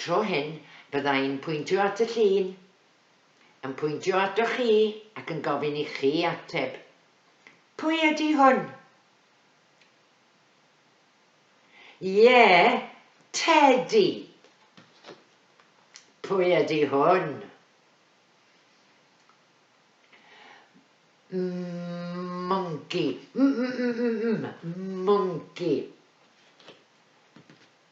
Tro hyn, bydda i'n pwyntio at y llun, yn pwyntio atoch chi ac yn gofyn i chi ateb, Pwy ydy hwn? Ie, Tedi! Pwy ydy hwn? Mwnci. M-m-m-m-m. Mwnci.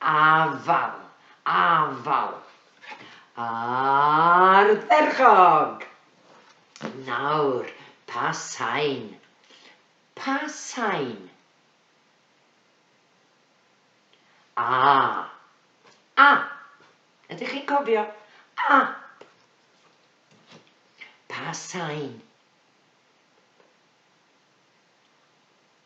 Afael! Afael! Ardderchog! Nawr, pa sain? Pa sain? A. A. Ydych chi'n cofio? A. Pa sain?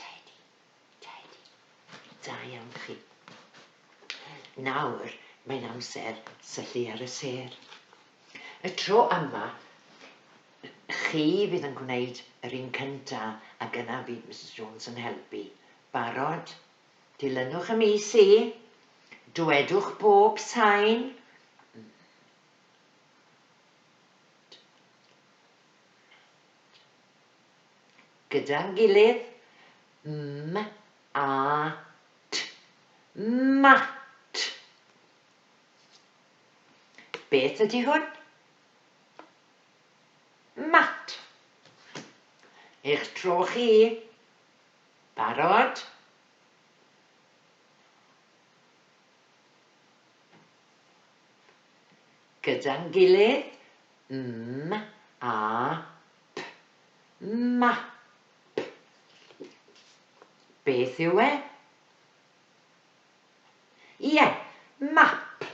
Tedi, Tedi, da iawn chi. Nawr mae'n amser syllu ar y sêr. Y tro yma, chi fydd yn gwneud yr un cynta ac yna fydd Misus Jones yn helpu. Barod? Dilynwch y mis i. Dwedwch bob sain. Gyda'n gilydd, m a t, mat. Beth ydy hwn? Mat. Eich tro chi. Barod? Gyda'n gilydd, m a P. Map. Beth yw e? Ie, map.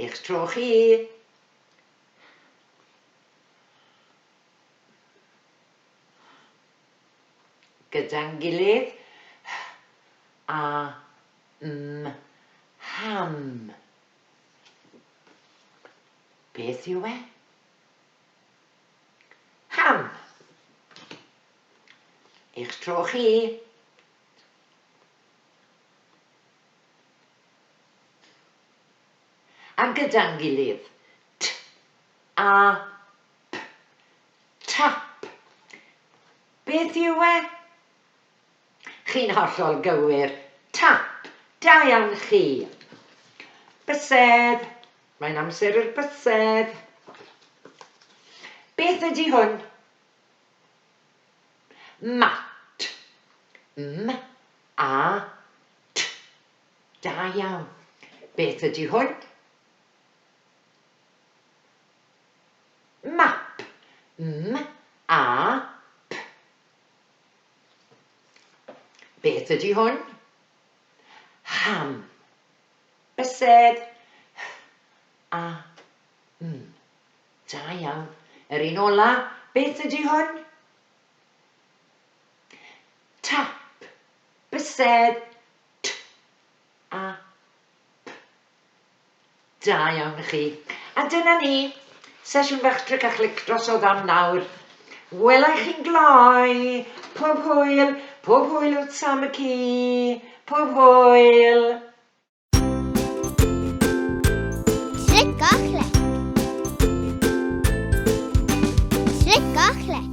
Eich tro chi. Gyda'n gilydd. H, a, m, ham. Beth yw e? Ham! Eich tro chi. A gyda'n gilydd. T, a, p. Tap. Beth yw e? Chi'n hollol gywir. Tap! Da iawn chi! Bysedd! Mae'n amser i'r bysedd! Beth ydy hwn? Mat. M, a, t. Da iawn. Beth ydy hwn? Map. M, a, p. Beth ydy hwn? Ham. Bysedd. H-a. M. Da iawn. Yr un ola, beth ydy hwn? Tap. Bysedd. T-a. P. Da iawn chi. A dyna ni. Sesiwn fach tric a chlic drosodd am nawr. Wela i chi'n gloi. Pob hwyl. Pob hwyl wrth Sam y ci. Pob hwyl. Tric a chlic. Tric a chlic.